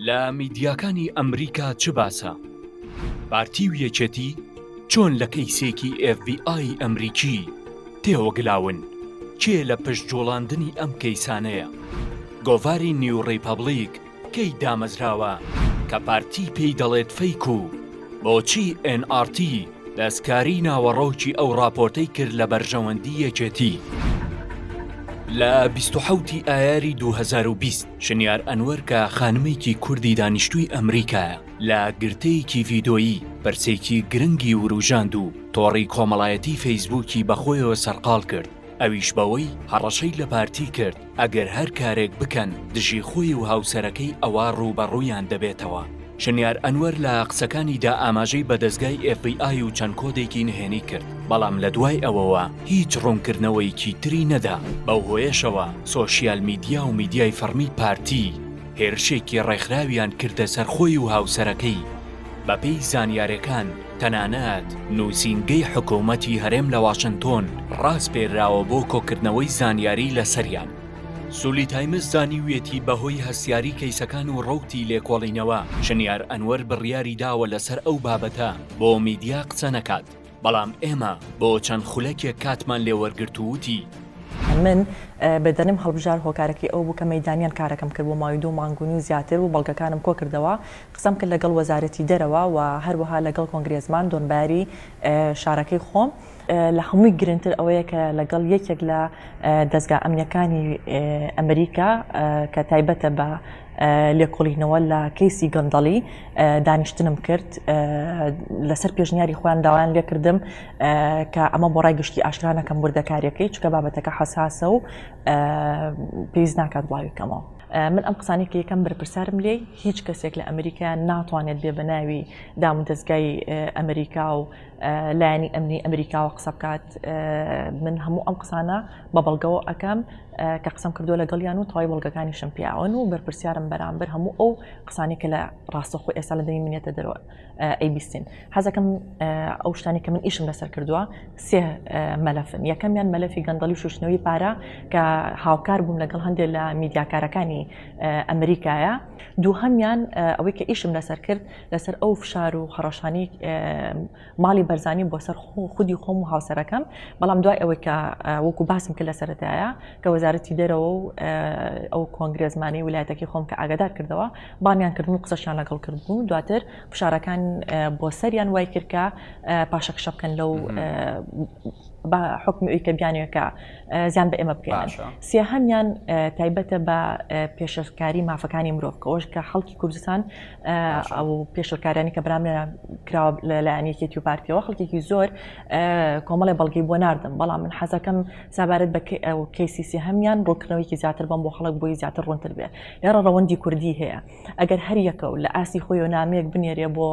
لە میدیاکانی ئەمریکا چ باسە؟ پارتی و یەکێتی چۆن لە کەیسێکی ئێڤیئای ئەمریکی تێوەگلاون؟ کێ لە پشت جوڵاندنی ئەم کەیسانەیە؟ گۆڤاری نیو ڕیپەبلیک کەی دامەزراوە کە پارتی پێی دەڵێت فەیک و بۆچی ئێن ئاڕتی دەستکاری ناوەڕۆکی ئەو ڕاپۆرتەی کرد لە بەرژەوەندی یەکێتی؟ لە 27 ئایاری 2020 شنیار ئەنوەر کە خانمێکی کوردی دانیشتووی ئەمریکایە، لە گرتەیەکی ڤیدۆیی پرسێکی گرنگی وروژاند و تۆڕی کۆمەڵایەتی فەیسبووکی بەخۆیەوە سەرقاڵ کرد، ئەویش بەوەی هەڕەشەی لە پارتی کرد ئەگەر هەر کارێک بکەن دژی خۆی و هاوسەرەکەی ئەوا ڕووبەڕوویان دەبێتەوە. شنیار ئەنوەر لە قسەکانیدا ئاماژەی بە دەزگای ئێف بی ئای و چەند کۆدێکی نهێنی کرد، بەڵام لە دوای ئەوەوە هیچ ڕوونکردنەوەیەکی تری نەدا، بەو هۆیەشەوە سۆشیال میدیا و میدیای فەڕمی پارتی هێرشێکی ڕێکخراویان کردە سەر خۆی و هاوسەرەکەی، بەپێی زانیارییەکان تەنانەت نووسینگەی حکوومەتی هەرێم لە واشنتۆن ڕاسپێردراوە بۆ کۆکردنەوەی زانیاری لەسەریان. سولی تایمز زانیویەتی بەهۆی هەستیاری کەیسەکان و ڕەوتی لێکۆڵینەوە شنیار ئەنوەر بڕیاری داوە لەسەر ئەو بابەتە بۆ میدیا قسە نەکات بەڵام ئێمە بۆ چەند خولەکێک کاتمان لێ وەرگرت و وتی، من بەدەنم هەڵبژارد هۆکارەکەی ئەوە بوو کە مەیدانیان کارەکەم کرد بۆ ماوەی دوو مانگ و نیو زیاتر و بەڵگەکانم کۆکردەوە قسەم کرد لەگەڵ وەزارەتی دەرەوە و هەروەها لەگەڵ کۆنگرێزمان دۆنباری شارەکەی خۆم لە هەمووی گرنگتر ئەوەیە کە لەگەڵ یەکێک لە دەزگا ئەمنیەکانی ئەمریکا کە تایبەتە بە لێکۆڵینەوە لە کەیسی گەندەڵی دانیشتنم کرد لەسەر پێشنیاری خۆیان داوایان لێکردم کە ئەمە بۆ ڕای گشتی ئاشکرانەکەم وردەکاریەکەی چکە بابەتەکە حساسە و پێویست ناکات بڵاویکەمەوە من ئەم قسانی کە یەکەم بەرپرسارم لێ هیچ کەسێک لە ئەمریکا ناتوانێت بێ بە ناوی دام و دەستگای ئەمریکا و لایەنی ئەمنی ئەمریکاوە قسە بکات من هەموو ئەم قسانە بە بەڵگەوە ئەکەم کە قسم کردو لەگەڵیان و تەوای بەڵگەکانی شم پیاون و بەرپرسیارم بەرامبەر هەموو ئەو قسانی کە لە ڕاستەخۆ ئێستا لە دەی منێتە دەرەوە ئەی بیستین حەزەکەم ئەو شتانی کە من ئیشم لەسەر کردووە سێ مەلەفن یەکەمیان مەلەفی گەندەڵی شوشتنەوەی پارە کە هاوکار بووم لەگەڵ هەندێک لە میدیاکارەکانی ئەمریکایە دووهەمیان ئەوەی کە ئیشم لەسەر کرد لەسەر ئەو فشار و هەڕەشانی ماڵی بەرزانی بۆ سەر خودی خۆم و هاوسەرەکەم بەڵام دوای ئەوەی کە وەکو باسم کە لەسەرەتایە کە وەزارەتی دەرەوە و ئەو کۆنگرێزمانی ویلایەتەکەی خۆم کە ئاگادار کردەوە بانیان کردن و قسەشیان لەگەڵ کردبوو دواتر فشارەکان بۆ سەریان وای کردکە پاشەک شە بکەن لەو بە حکمی ئەوی کە بیانەکە زیان بە ئێمە بکەن سێ هەمیان تایبەتە بە پێشکاری مافەکانی مرۆڤ کەەوەش کە خەڵکی کوردستان ئەو پێشلکارانی کە برام کراوە لە لایەن یەکێتی و پارتیەوە خەڵکێکی زۆر کۆمەڵی بەڵگی بۆ نردم بەڵام من حەزەکەم سابارەت بە کەیسیسی هەمیان ڕوونکردنەوەیکی زیاتر بم بۆ خەڵک بۆی زیاتر ڕوونتر بێ لێڕە ڕەوەندی کوردی هەیە ئەگەر هەر یەکە و لە ئاسی خۆی و نامەیەک بنێرێ بۆ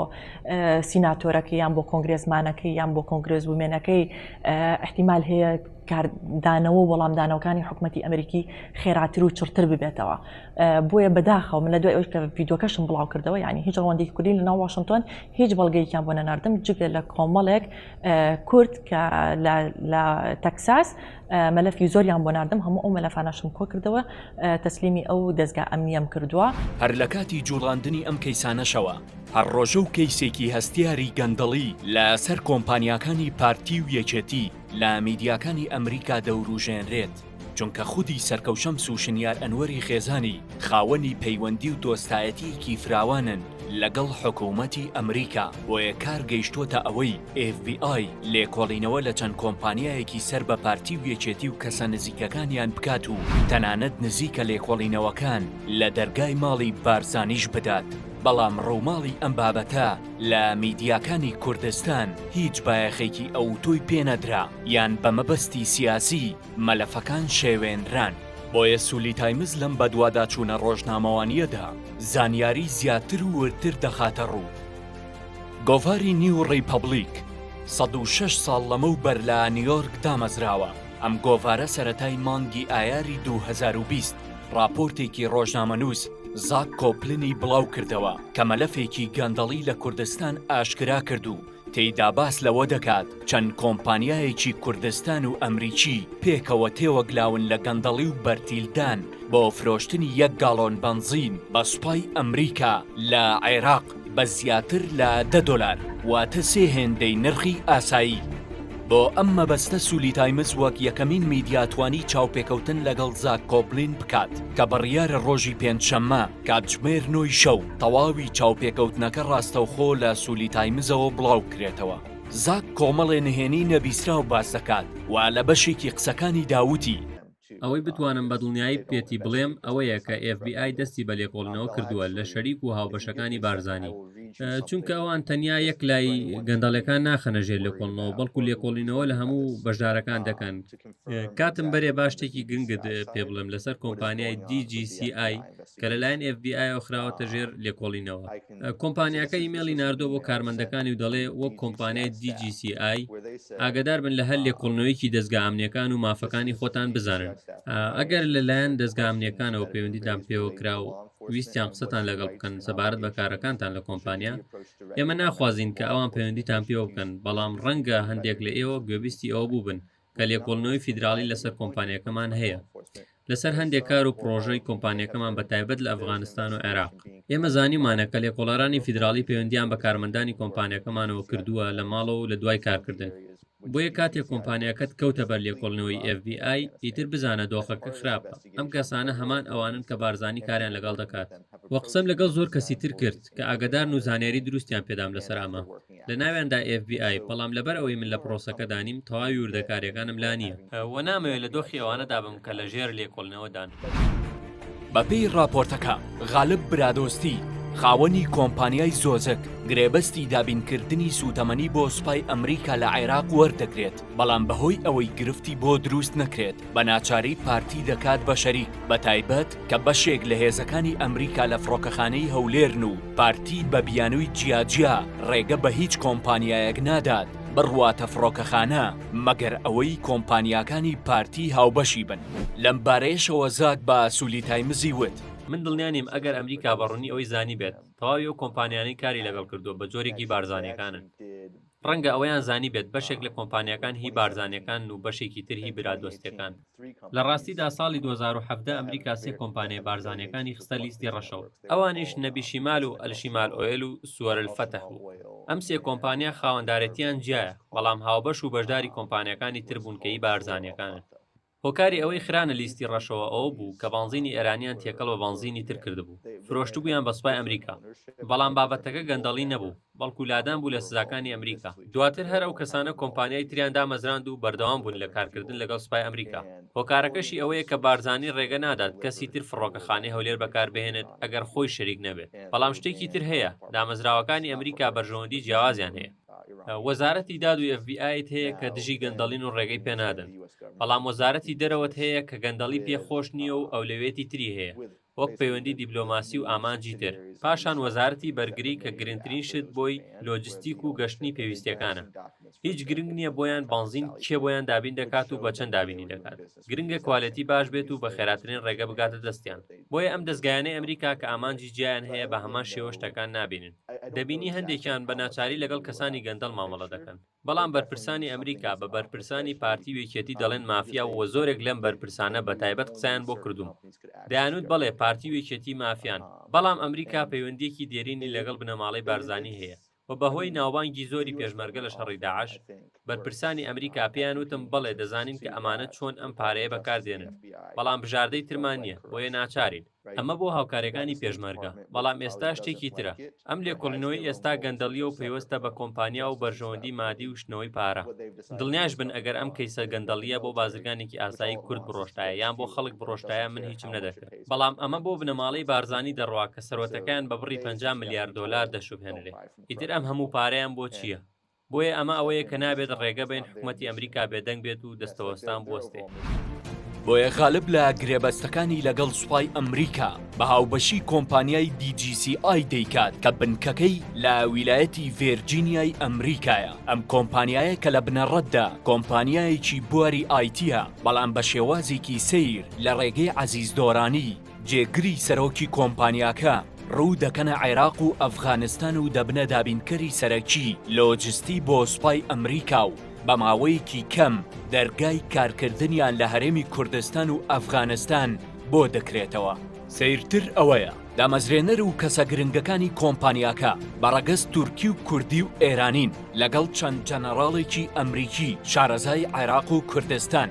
سیناتۆرەکە یان بۆ کۆنگرێزمانەکەی یان بۆ کۆنگرێز ومێنەکەی احتیمال هەیە کاردانەوە وەڵامدانەوەکانی حکوومەتتی ئەمریکی خێراتر و چڕتر ببێتەوە بۆیە بەداخەوە من لە دوای ئەوش کە ڤیددیوکەشم بڵاو کردەوە ینی هیچ ڕوەندێکی کوردی لە ناو واشنگتۆن هیچ بەڵگەیەکیان بۆ نەناردم جگە لە کۆمەڵێک کورد کە لە تەکساس مەلەفی زۆریان بۆ نردم هەموو ئەو مەلەفاناشم کۆ کردەوە تەسلیمی ئەو دەستگا ئەمنیەم کردووە هەر لە کاتی جوڵاندنی ئەم کەیسانەشەوە هەر ڕۆژە و کەیسێکی هەستیاری گەندەڵی لە سەر کۆمپانیاکانی پارتی و یەکێتی لە میدیاکانی ئەمریکا دەوروژێنرێت. چونکە خودی سەرکەو شەمس و شنیار ئەنوەری خێزانی خاوەنی پەیوەندی و دۆستایەتییەکی فراوانن لەگەڵ حکوومەتی ئەمریکا، بۆیە کار گەیشتووەتە ئەوەی ئێف بی ئای لێکۆڵینەوە لە چەند کۆمپانیایەکی سەر بە پارتی و یەکێتی و کەسە نزیکەکانیان بکات و تەنانەت نزیکە لێکۆڵینەوەکان لە دەرگای ماڵی بارزانیش بدات، بەڵام ڕووماڵی ئەم بابەتە لە میدیاکانی کوردستان هیچ بایەخێکی ئەوتۆی پێ نەدرا. یان بە مەبەستی سیاسی مەلەفەکان شێوێنران. بۆیە سولی تایمز لەم بەدواداچوونە ڕۆژنامەوانییەدا زانیاری زیاتر و وردتر دەخاتە ڕوو. گۆڤاری نیو ڕیپەبڵیک سەد و شەش ساڵ لەمەو بەر لە نیۆرک دامەزراوە، ئەم گۆڤارە سەرەتای مانگی ئایاری دوو هەزار و بیست ڕاپۆرتێکی ڕۆژنامەنووس زاک کۆپلنی بڵاو کردەوە کە مەلەفێکی گەندەڵی لە کوردستان ئاشکرا کرد و تێیدا باس لەوە دەکات چەند کۆمپانیایەکی کوردستان و ئەمریکی پێکەوە تێوەگلاون لە گەندەڵی و بەرتیلدان بۆ فرۆشتنی یەک گاڵۆن بەنزین بە سوپای ئەمریکا لە عێراق بە زیاتر لە دە دۆلار واتە سێ هێندەی نرخی ئاسایی. بۆ ئەم مەبەستە سولی تایمز وەک یەکەمین میدیا توانی چاوپێکەوتن لەگەڵ زاک کۆبلین بکات کە بڕیارە ڕۆژی پێنجشەممە کاتژمێر نۆی شەو تەواوی چاوپێکەوتنەکە ڕاستەوخۆ لە سولی تایمزەوە بڵاوکرێتەوە. زاک کۆمەڵێ نهێنی نەبیسراو باس دەکات و لە بەشێکی قسەکانیدا وتی، ئەوەی بتوانم بە دڵنیایی پێتی بڵێم ئەوەیە کە ئێف بی ئای دەستی بە لێکۆڵینەوە کردووە لە شەریک و هاوبەشەکانی بارزانی، چونکە ئەوان تەنیا یەک لای گەندەڵیەکان ناخەنە ژێر لێکۆڵنەوە بەڵکو لێکۆڵینەوە لە هەموو بەشدارەکان دەکەن. کاتم بەرێ با شتێکی گرنگت پێ بڵێم لەسەر کۆمپانیای DGCI کە لەلایەن FBI و خراوەتە ژێر لێکۆڵینەوە کۆمپانیاکە ئیمێلی ناردۆ بۆ کارمەندەکانی و دەڵێ وەک کۆمپانیای DGCI ئاگدار بن لە هەر لێکۆڵنەوەیکی دەستگا ئەمنیەکان و مافەکانی خۆتان بزانن ئەگەر لەلایەن دەستگا ئەمنیەکانەوە پەیوەندیدان پێوە کرا و ویستیان قسەتان لەگەڵ بکەن سەبارەت بە کارەکانتان لە کۆمپانیا ئێمە ناخوازیین کە ئەوان پەیوەندیتان پێوە بکەن بەڵام ڕەنگە هەندێک لە ئێوە گوێبیستی ئەوە بووبن کە لێکۆڵنەوەی فیدراڵی لەسەر کۆمپانیەکەمان هەیە لەسەر هەندێک کار و پرۆژەی کۆمپانیەکەمان بە تایبەت لە ئەفغانستان و عێراق ئێمە زانیمانە کە لێکۆڵارانی فیدراڵی پەیوەندیان بە کارمەندانی کۆمپانیەکەمانەوە کردووە لە ماڵەوە و لە دوای کارکردن بۆیە کاتێک کۆمپانیاکەت کەوتە بەر لێکۆڵنەوەی FBI ئیتر بزانە دۆخەکە خراپە ئەم کەسانە هەمان ئەوانن کە بارزانانی کاریان لەگەڵ دەکات وە قسەم لەگەڵ زۆر کەسی تر کرد کە ئاگدارن و زانیاری دروستیان پێدام لەسەر ئەمە لە ناویاندا ئێف بی ئای، بەڵام لەبەر ئەوەی من لە پرۆسەکەدا نیم، تەواوی وردەکارییەکانم لا نییە و نامەوێت لە دۆخی ئەوانەدا بم کە لەژێر لێکۆڵینەوەدان. بەپێی ڕاپۆرتەکە، غالب برادۆستی، خاوەنی کۆمپانیای زۆزەک، گرێبەستی دابینکردنی سووتەمەنی بۆ سوپای ئەمریکا لە عێراق وەردەگرێت، بەڵام بەهۆی ئەوەی گرفتی بۆ دروست نەکرێت، بە ناچاری پارتی دەکات بە شەریک، بە تایبەت کە بەشێک لە هێزەکانی ئەمریکا لە فڕۆکەخانەی هەولێرن و پارتی بە بیانووی جیاجیا ڕێگە بە هیچ کۆمپانیایەک نادات بڕواتە فڕۆکەخانە مەگەر ئەوەی کۆمپانیاکانی پارتی هاوبەشی بن. لەمبارەیەشەوە زاک بە سولی تایمزی وت، من دڵنیا نیم ئەگەر ئەمریکا بە ڕوونی ئەوەی زانیبێت تەواوی ئەو کۆمپانیانەی کاری لەگەڵ کردووە بە جۆرێکی بارزانیەکانن، ڕەنگە ئەوەیان زانیبێت بەشێک لە کۆمپانیاکان هی بارزانیەکانن و بەشێکی تر هی برادۆستەکان. لە ڕاستیدا ساڵی دوو هەزار و حەڤدە ئەمریکا سێ کۆمپانیای بارزانیەکانی خستە لیستی ڕەشەوە ئەوانیش نەبی شیمال و ئەلشیمال ئۆیل و سوەر الفەتح بوو ئەم سێ کۆمپانیا خاوەندارێتیان جیایە بەڵام هاوبەش و بەشداری کۆمپانیاکانی تر بوون کە هی بارزانیەکانن. هۆکاری ئەوەی خرانە لیستی ڕەشەوە ئەوە بوو کە بەنزینی ئێرانیان تێکەڵ بە بەنزینی تر کردبوو، فرۆشتبوویان بە سوپای ئەمریکا. بەڵام بابەتەکە گەندەڵی نەبوو، بەڵکو لادان بوو لە سزاکانی ئەمریکا. دواتر هەر ئەو کەسانە کۆمپانیای تریان دامەزراند و بەردەوام بوون لە کارکردن لەگەڵ سوپای ئەمریکا. هۆکارەکەشی ئەوەیە کە بارزانی ڕێگە نادات کەسی تر فڕۆکەخانەی هەولێر بەکاربهێنێت ئەگەر خۆی شەریک نەبێت. بەڵام شتێکی تر هەیە، دامەزراوەکانی ئەمریکا بەرژەوەندی جیاوازیان هەیە. وەزارەتی داد و ئێف بی ئایت هەیە کە دژی گەندەڵین و ڕێگەی پێنادەن بەڵام وەزارەتی دەرەوەت هەیە کە گەندەڵی پێ خۆش نییە و ئەولەوێتی تری هەیە وەک پەیوەندی دیبلۆماسی و ئامانجی تر پاشان وەزارەتی بەرگری کە گرنگترین شت بۆی لۆجستیک و گەشتنی پێویستەکانە هیچ گرنگ نییە بۆیان بانزین کێ بۆیان دابین دەکات و بە چەند دابینی دەکات گرنگە کوالێتی باش بێت و بە خێراترین ڕێگە بگاتە دەستیان بۆیە ئەم دەزگایانەی ئەمریکا کە ئامانجی جیایان هەیە بە هەمان شێوە شتەکان نابینن دەبینی هەندێکیان بە ناچاری لەگەڵ کەسانی گەندەڵ مامەڵە دەکەن بەڵام بەرپرسانی ئەمریکا بە بەرپرسانی پارتی و یەکێتی دەڵێن مافیا و زۆرێک لەم بەرپرسانە بە تایبەت قسەیان بۆ کردووم دەیانوت بەڵێ پارتی و یەکێتی مافیان بەڵام ئەمریکا پەیوەندیەکی دێرینی لەگەڵ بنەماڵەی بارزانی هەیە و بەهۆی ناوبانگی زۆری پێشمەرگە لە شەڕی داعش، بەرپرسانی ئەمریکا پێیان وتم بەڵێ دەزانین کە ئەمانە چۆن ئەم پارەیە بەکار دێنن، بەڵام بژاردەی ترمان نییە، بۆیە ناچارین. ئەمە بۆ هاوکارەکانی پێشمەرگە، بەڵام ئێستا شتێکی ترە. ئەم لێکۆڵینەوەی ئێستا گەندەڵییە و پەیوەستە بە کۆمپانیا و بەرژەوەندی مادی و شتنەوەی پارە. دڵنیاش بن ئەگەر ئەم کەیسە گەندەڵییە بۆ بازرگانێکی ئاسایی کورد بڕۆشتایە یان بۆ خەڵک بڕۆشتایە من هیچم نەدەکرد. بەڵام ئەمە بۆ بنەماڵەی بارزانی دەڕوا کە سەروەتەکەیان بە بڕی پەنجا ملیار دۆلار دەشوبهێنرێ ئیتر ئەم هەموو پارەیان بۆ چییە؟ بۆیە ئەمە ئەوەیە کە نابێت ڕێگە بەین حکومەتی ئەمریکا بێدەنگ بێت و دەستەوەستان بوەستێ. بۆیە غالب لە گرێبەستەکانی لەگەڵ سوپای ئەمریکا بە هاوبەشی کۆمپانیای DGCI دەیکات کە بنکەکەی لە ویلایەتی ڤێرجینیای ئەمریکایە ئەم کۆمپانیایە کە لە بنەڕەتدا کۆمپانیایەکی بواری ئایتیە بەڵام بە شێوازێکی سەیر لە ڕێگەی عەزیز دۆرانی، جێگری سەرۆکی کۆمپانیاکە، ڕوو دەکەنە عێراق و ئەفغانستان و دەبنە دابینکەری سەرەکی لۆجستی بۆ سوپای ئەمریکا و بە ماوەیەکی کەم دەرگای کارکردنیان لە هەرێمی کوردستان و ئەفغانستان بۆ دەکرێتەوە. سەیرتر ئەوەیە دامەزرێنەر و کەسە گرنگەکانی کۆمپانیاکە بە ڕەگەز تورکی و کوردی و ئێرانین لەگەڵ چەند جەنەڕاڵێکی ئەمریکی شارەزای عێراق و کوردستان.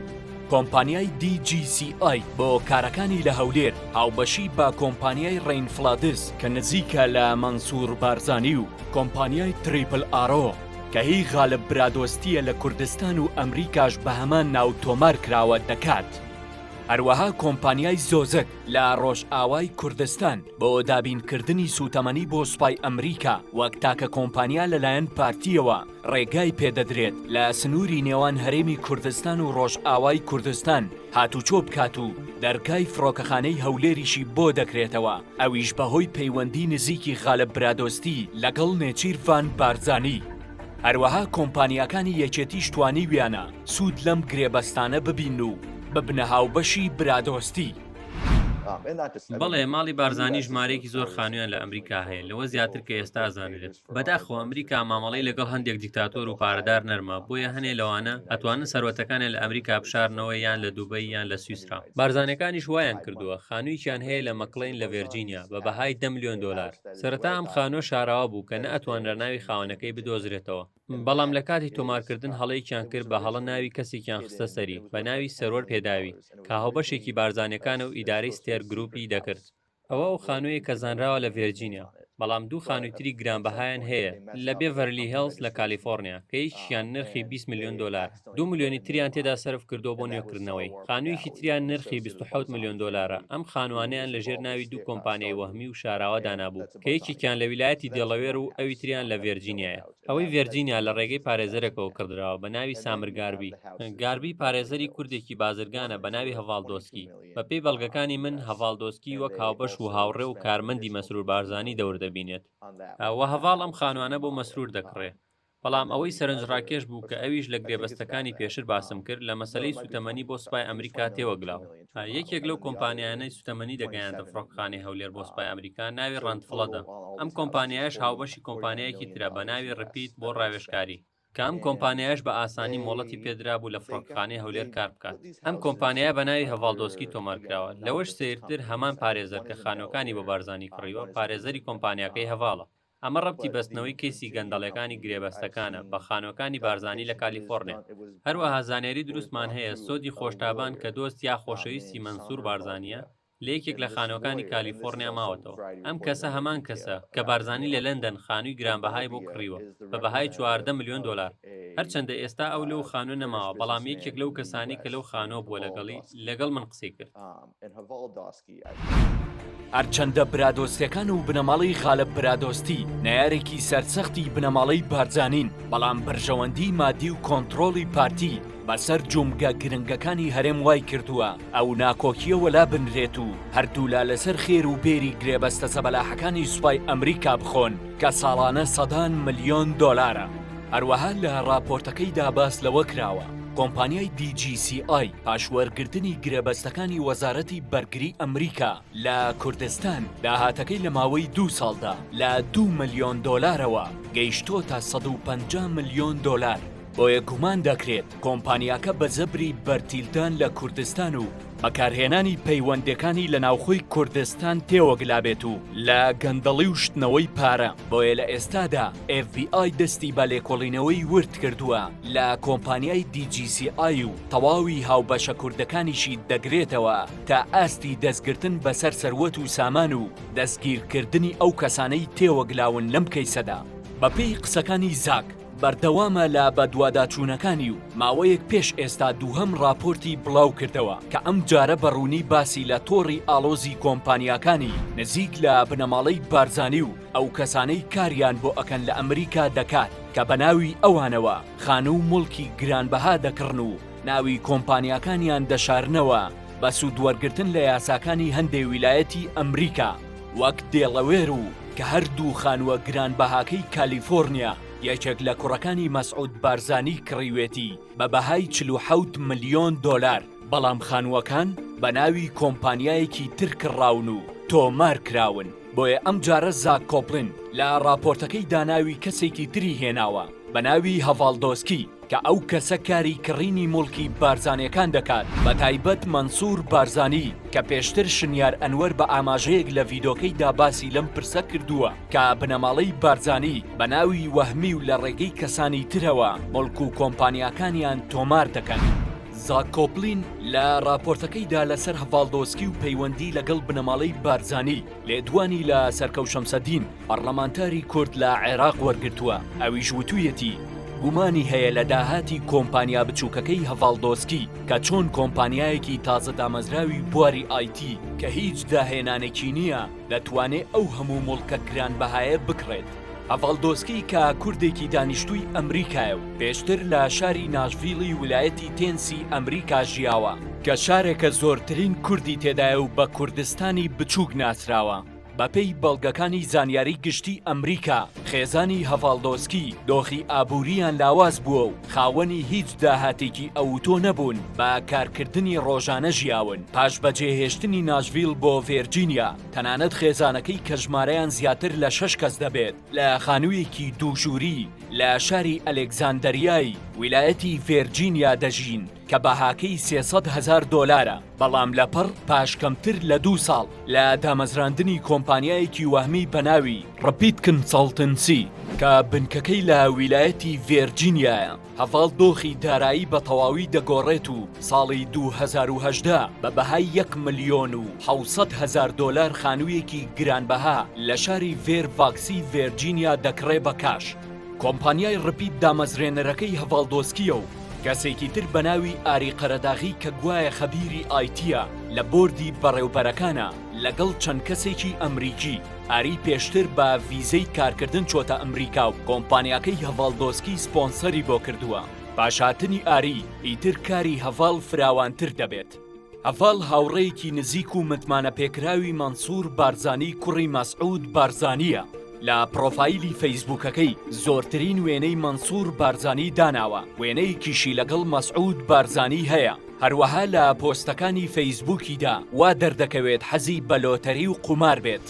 کۆمپانیای دی جی سی ئای بۆ کارەکانی لە هەولێر هاوبەشی بە کۆمپانیای ڕەین فڵادس کە نزیکە لە مەنسوور بارزانی و کۆمپانیای تریپل ئارۆ کە هی غالب برادۆستییە لە کوردستان و ئەمریکاش بە هەمان ناو تۆمار کراوە دەکات. هەروەها کۆمپانیای زۆزک لە ڕۆژئاوای کوردستان بۆ دابینکردنی سووتەمەنی بۆ سوپای ئەمریکا وەک تاکە کۆمپانیا لەلایەن پارتیەوە ڕێگای پێدەدرێت لە سنووری نێوان هەرێمی کوردستان و ڕۆژئاوای کوردستان هاتوچۆ بکات و دەرگای فڕۆکەخانەی هەولێریشی بۆ دەکرێتەوە ئەویش بەهۆی پەیوەندی نزیکی غالە برادۆستی لەگەڵ نێچیرڤان بارزانانی هەروەها کۆمپانیاکانی یەکێتیش توانیویانە سوود لەم گرێبەستانە ببین و ببنە هاوبەشی برادۆستی. بەڵێ ماڵی بارزانی ژمارەیەکی زۆر خانوویان لە ئەمریکا هەیە لەوە زیاتر کە ئێستا ئەزانرێت بەداخەوە ئەمریکا مامەڵەی لەگەڵ هەندێک دیکتاتۆر و پارەدار نەرمە بۆیە هەنێ لەوانە ئەتوانن سەروەتەکانیان لە ئەمریکا بشارنەوە یان لە دوبەی یان لە سویسرا بارزانەکانیش وایان کردووە خانوویکیان هەیە لە مەکڵین لە ڤێرجینیا بە بەهای دە ملیۆن دۆلار سەرەتا ئەم خانووە شاراوە بوو کە نە ئەتوانرا ناوی خاوەنەکەی بدۆزرێتەوە بەڵام لە کاتی تۆمارکردن هەڵەیەکیان کرد بە هەڵە ناوی کەسێکیان خستە سەری بە ناوی سەرۆەر پێداوی کە هاوبەشێکی بارزانەکانە و ئیدارەی ستێر گروپی دەکرد ئەوە ئەو خانوویە کە زانراوە لە ڤێرجینیا بەڵام دوو خانووی تری گرانبەهایان هەیە لە بێڤەرلی هێڵز لە کالیفۆرنیا کە یەکیان نرخی 20 ملیۆن دۆلارە دوو ملیۆنی تریان تێدا سەرف کردووە بۆ نوێکردنەوەی خانوویەکی تریان نرخی 27 ملیۆن دۆلارە ئەم خانوانەیان لە ژێر ناوی دوو کۆمپانیای وەهمی و شاراوە دانابوو کە یەکێکیان لە ویلایەتی دێڵەوێر و ئەوی تریان لە ڤێرجینیایە ئەوەی ڤێرجینیا لە ڕێگەی پارێزەرێکەوە کڕدراوە بە ناوی سامر گاربی گاربی پارێزەری کوردێکی بازرگانە بە ناوی هەڤاڵ دۆسکی بەپێی بەڵگەکانی من هەڤاڵ دۆسکی وەک هاوبەش و هاوڕێ و کارمەندی مەسرور بارزانی دەور دەبینێت و هەڤاڵ ئەم خانوانە بۆ مەسرور دەکڕێ بەڵام ئەوەی سەرنجڕاکێش بوو کە ئەویش لە گرێبەستەکانی پێشر باسم کرد لە مەسەلەی سووتەمەنی بۆ سوپای ئەمریکا تێوەگلاو یەکێک لەو کۆمپانیایانەی سووتەمەنی دەگەیاندە فڕۆکەخانەی هەولێر بۆ سوپای ئەمریکا ناوی ڕەند فڵەدە ئەم کۆمپانیایەش هاوبەشی کۆمپانیایەکی ترە بە ناوی ڕپیت بۆ ڕاوێژکاری کە ئەم کۆمپانیایەش بە ئاسانی مۆڵەتی پێدرابوو لە فڕۆکەخانەی هەولێر کار بکات ئەم کۆمپانیایە بە ناوی هەڤاڵدۆسکی تۆمار کراوە لەوەش سەیرتر هەمان پارێزەر کە خانووەکانی بۆ بارزانی کڕیوە پارێزەری کۆمپانیاکەی هەڤاڵە ئەمە ڕەبتی بەستنەوەی کەیسی گەندەڵیەکانی گرێبەستەکانە بە خانوەکانی بارزانی لە کالیفۆڕنیا. هەروەها زانیاری دروستمان هەیە سۆدی خۆشتابان کە دۆست یا خۆشەویستی مەنسور بارزانیە لە یەکێک لە خانوەکانی کالیفۆڕنیا ماوەتەوە. ئەم کەسە هەمان کەسە کە بارزانی لە لەندەن خانوی گرانبەهای بۆ کڕیوە بە بەهای چواردە ملیۆن دۆلار. هەرچەندە ئێستا ئەو لەو خانوە نەماوە بەڵام یەکێک لەو کەسانەی کە لەو خانوە بووە لەگەڵی لەگەڵ من قسەی کرد. هەرچەندە برادۆستەکان و بنەماڵەی غالب برادۆستی نەیارێکی سەرسەختی بنەماڵەی بارزانین بەڵام بەرژەوەندی مادی و کۆنتترۆڵی پارتی بەسەر جومگە گرنگەکانی هەرێم وای کردووە ئەو ناکۆکیە وەلا بنرێت و هەردوولا لەسەر خێر و بێری گرێبەستە زەبەلاحەکانی سوپای ئەمریکا بخۆن کە ساڵانە سەدان ملیۆن دۆلارە هەروەها لە راپۆرتەکەیدا باس لەوە کراوە کۆمپانیای دیجیسی ئای پاش وەرگرتنی گرێبەستەکانی وەزارەتی بەرگری ئەمریکا لە کوردستان، داهاتەکەی لە ماوەی دوو ساڵدا لە دوو ملیۆن دۆلارەوە گەیشتۆتە سەد و پەنجا ملیۆن دۆلار، بۆیە گومان دەکرێت کۆمپانیاکە بە زەبری بەرتیلدان لە کوردستان و بەکارهێنانی پەیوەندەکانی لە ناوخۆی کوردستان تێوەگلابێت و لە گەندەڵی و شتنەوەی پارە، بۆیە لە ئێستادا، ئێف بی ئای دەستی بە لێکۆڵینەوەی ورد کردووە لە کۆمپانیای دی جی سی ئای و تەواوی هاوبەشە کوردەکانیشی دەگرێتەوە تا ئاستی دەستگرتن بەسەر سەروەت و سامان و دەستگیرکردنی ئەو کەسانەی تێوەگلاون لەم کەیسەدا. بەپێی قسەکانی زاک، بەردەوامە لە بەدواداچوونەکانی و ماوەیەک پێش ئێستا دووهەم ڕاپۆرتی بڵاو کردەوە کە ئەم جارە بە ڕوونی باسی لە تۆڕی ئاڵۆزی کۆمپانیاکانی نزیک لە بنەماڵەی بارزانی و ئەو کەسانەی کاریان بۆ ئەکەن لە ئەمریکا دەکات کە بە ناوی ئەوانەوە خانوو و موڵکی گرانبەها دەکڕن و ناوی کۆمپانیاکانیان دەشارنەوە بە سوود وەرگرتن لە یاساکانی هەندێ ویلایەتی ئەمریکا وەک دێڵەوێر و کە هەر دوو خانووە گرانبەهاکەی کالیفۆرنیا یەکێک لە کوڕەکانی مەسعود بارزانی کڕیوێتی. بە بەهای چل و حەوت ملیۆن دۆلار، بەڵام خانووەکان بە ناوی کۆمپانیایەکی تر کڕراون و تۆمار کراون، بۆیە ئەمجارە زاک کۆپلن لە ڕاپۆرتەکەیدا ناوی کەسێکی تری هێناوە بە ناوی هەڤاڵ دۆسکی کە ئەو کەسە کاری کڕینی موڵکی بارزانیەکان دەکات بە تایبەت مەنسور بارزانی کە پێشتر شنیار ئەنوەر بە ئاماژەیەک لە ڤیدۆکەیدا باسی لەم پرسە کردووە. کە بنەماڵەی بارزانی بە ناوی وەهمی و لە ڕێگەی کەسانی ترەوە ملک و کۆمپانیاکانیان تۆمار دەکەن. زاک کۆپلین لە ڕاپۆرتەکەیدا لەسەر هەڤاڵدۆسکی و پەیوەندی لەگەڵ بنەماڵەی بارزانی لێدوانی لە سەرکەو شەمسەدین پەڕلەمانتاری کورد لە عێراق وەرگرتووە ئەویش وتوویەتی گومانی هەیە لە داهاتی کۆمپانیا بچووکەکەی هەڤاڵدۆسکی کە چۆن کۆمپانیایەکی تازە دامەزراوی بواری ئایتی کە هیچ داهێنانێکی نییە دەتوانێ ئەو هەموو موڵکە گرانبەهایە بکڕێت. هەڤاڵدۆسکی کە کوردێکی دانیشتووی ئەمریکایە و پێشتر لە شاری ناشڤیڵی ولایەتی تێنسی ئەمریکا ژیاوە، کە شارێکە زۆرترین کوردی تێدایە و بە کوردستانی بچووک ناسراوە، بەپێی بەڵگەکانی زانیاری گشتی ئەمریکا، خێزانی هەڤاڵدۆسکی دۆخی ئابوورییان لاواز بووە و خاوەنی هیچ داهاتێکی ئەوتۆ نەبوون، بە کارکردنی ڕۆژانە ژیاون، پاش بەجێهێشتنی ناشڤیل بۆ ڤێرجینیا، تەنانەت خێزانەکەی کە ژمارەیان زیاتر لە شەش کەس دەبێت، لە خانوویەکی دوو ژووری لە شاری ئەلێکزاندەریای ویلایەتی ڤێرجینیا دەژین. کە بەهاکەی سێ سەد هەزار دۆلارە، بەڵام لەپڕ پاش کەمتر لە دوو ساڵ لە دامەزراندنی کۆمپانیایەکی وەهمی بە ناوی ڕپیت کنسەڵتنسی کە بنکەکەی لە ویلایەتی ڤێرجینیایە، هەڤاڵ دۆخی دارایی بە تەواوی دەگۆڕێت و ساڵی دوو هەزار و هەژدە بە بەهای یەک ملیۆن و حەوت سەد هەزار دۆلار خانوویەکی گرانبەها لە شاری ڤێر ڤاکسی ڤێرجینیا دەکڕێ بە کاش. کۆمپانیای ڕپیت دامەزرێنەرەکەی هەڤاڵ دۆسکییە و، کەسێکی تر بە ناوی ئاری قەرەداغی کە گوایە خەبیری ئایتییە لە بۆردی بەڕێوبەرەکانە لەگەڵ چەند کەسێکی ئەمریکی، ئاری پێشتر بە ڤیزەی کارکردن چۆتە ئەمریکا و کۆمپانیاکەی هەڤاڵ دۆسکی سپۆنسەری بۆ کردووە، پاش هاتنی ئاری ئیتر کاری هەڤاڵ فراوانتر دەبێت. هەڤاڵ هاوڕێیەکی نزیک و متمانەپێکراوی مەنسوور بارزانی کوڕی مەسعود بارزانییە، لە پڕۆفایلی فەیسبووکەکەی زۆرترین وێنەی مەنسوور بارزانی داناوە، وێنەیەکیشی لەگەڵ مەسعود بارزانی هەیە، هەروەها لە پۆستەکانی فەیسبووکیدا وا دەردەکەوێت حەزی بە لۆتەری و قومار بێت.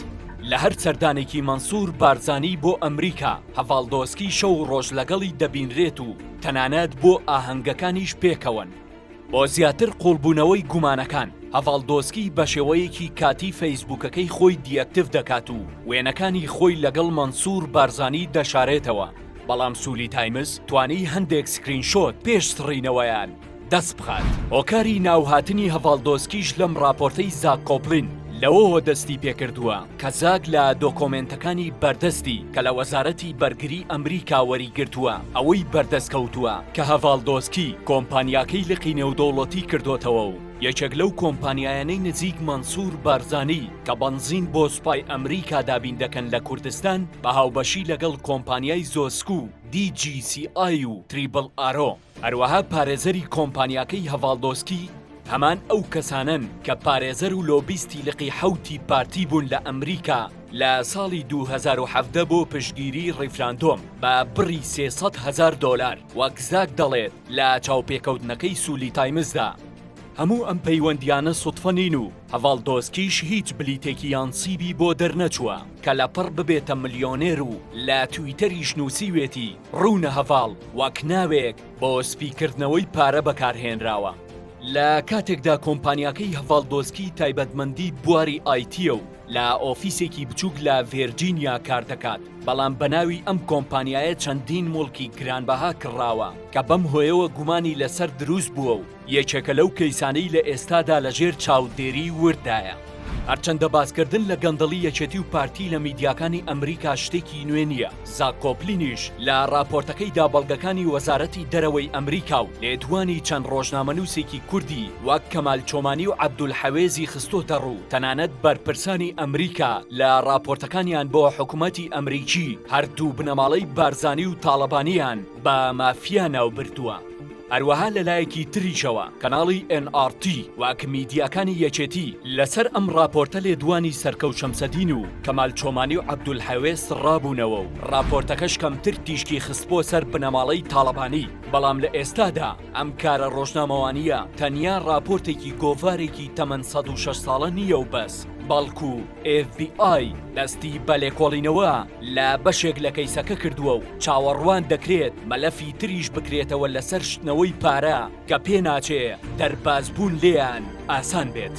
لە هەر سەردانێکی مەنسوور بارزانی بۆ ئەمریکا، هەڤاڵ دۆسکی شەو و ڕۆژ لەگەڵی دەبینرێت و تەنانەت بۆ ئاهەنگەکانیش پێکەوەن. بۆ زیاتر قوڵبوونەوەی گومانەکان، هەڤاڵ دۆسکی بەشێوەیەکی کاتی فەیسبووکەکەی خۆی دیئەکتیڤ دەکات و وێنەکانی خۆی لەگەڵ مەنسوور بارزانی دەشارێتەوە، بەڵام سولی تایمز توانی هەندێک سکرین شۆت پێش سڕینەوەیان دەست بخات. هۆکاری ناوهاتنی هەڤاڵ دۆسکیش لەم ڕاپۆرتەی زاک کۆپلین لەوەوە دەستی پێکردووە، کەزاک لە دۆکۆمێنتەکانی بەردەستی کە لە وەزارەتی بەرگری ئەمریکا وەریگرتووە ئەوەی بەردەست کەوتووە کە هەڤاڵدۆسکی کۆمپانیاکەی لقی نێودەوڵەتی کردۆتەوە و یەکێک لەو کۆمپانیایانەی نزیک مەنسور بارزانی کە بەنزین بۆ سوپای ئەمریکا دابین دەکەن لە کوردستان بە هاوبەشی لەگەڵ کۆمپانیای زۆسک و دی جی سی ئای و تریبڵ ئارۆ هەروەها پارێزەری کۆمپانیاکەی هەڤاڵدۆسکی هەمان ئەو کەسانەن کە پارێزەر و لۆبیستی لقی حەوتی پارتی بوون لە ئەمریکا لە ساڵی 2017 بۆ پشتگیری ڕیفراندۆم بە بڕی 300 هەزار دۆلار وەک زاک دەڵێت لە چاوپێکەوتنەکەی سولی تایمزدا هەموو ئەم پەیوەندیانە سوتفە نین و هەڤاڵ دۆسکیش هیچ بلیتێکی یان سیبی بۆ دەرنەچووە کە لەپڕ ببێتە ملیۆنێر و لە تویتەریش نووسیوێتی ڕوونە هەڤاڵ واک ناوێک بۆ سپیکردنەوەی پارە بەکارهێنراوە، لە کاتێکدا کۆمپانیاکەی هەڤاڵ دۆسکی تایبەتمەندی بواری ئایتییە و لە ئۆفیسێکی بچووک لە ڤێرجینیا کاردەکات، بەڵام بەناوی ئەم کۆمپانیایە چەندین موڵکی گرانبەها کڕاوە کە بەم هۆیەوە گومانی لەسەر دروستبووە و یەکێکە لەو کەیسانەی لە ئێستادا لە ژێر چاودێری ورددایە. هەرچەندە باسکردن لە گەندەڵی یەکێتی و پارتی لە میدیاکانی ئەمریکا شتێکی نوێ نییە، زاک کۆپلینیش لە راپۆرتەکەیدا بەڵگەکانی وەزارەتی دەرەوەی ئەمریکا و لێدوانی چەند رۆژنامەنووسێکی کوردی وەک کەمال چۆمانی و عەبدولحەوێزی خستۆتەڕوو، تەنانەت بەرپرسانی ئەمریکا لە راپۆرتەکانیان بۆ حکومەتی ئەمریکی هەردوو بنەماڵەی بارزانی و تاڵەبانییان بە مافیا ناوبردووە. هەروەها لەلایەکی تریشەوە کەناڵی ئێن ئاڕ تی وەک میدیاکانی یەکێتی لەسەر ئەم ڕاپۆرتە لێدوانی سەرکەو شەمسەدین و کەمال چۆمانی و عەبدولحەوێ سڕابوونەوە و ڕاپۆرتەکەش کەمتر تیشکی خستبووە سەر بنەماڵەی تاڵەبانی بەڵام لە ئێستادا ئەم کارە ڕۆژنامەوانییە تەنیا ڕاپۆرتێکی گۆڤارێکی تەمەن سەد و شەش ساڵە نییە و بەس بەڵکو ئێف بی ئای دەستی بە لێکۆڵینەوە لە بەشێک لە کەیسەکە کردووە و چاوەڕوان دەکرێت مەلەفی تریش بکرێتەوە لەسەر شتنەوەی پارە کە پێناچێ دەربازبوون لێیان ئاسان بێت.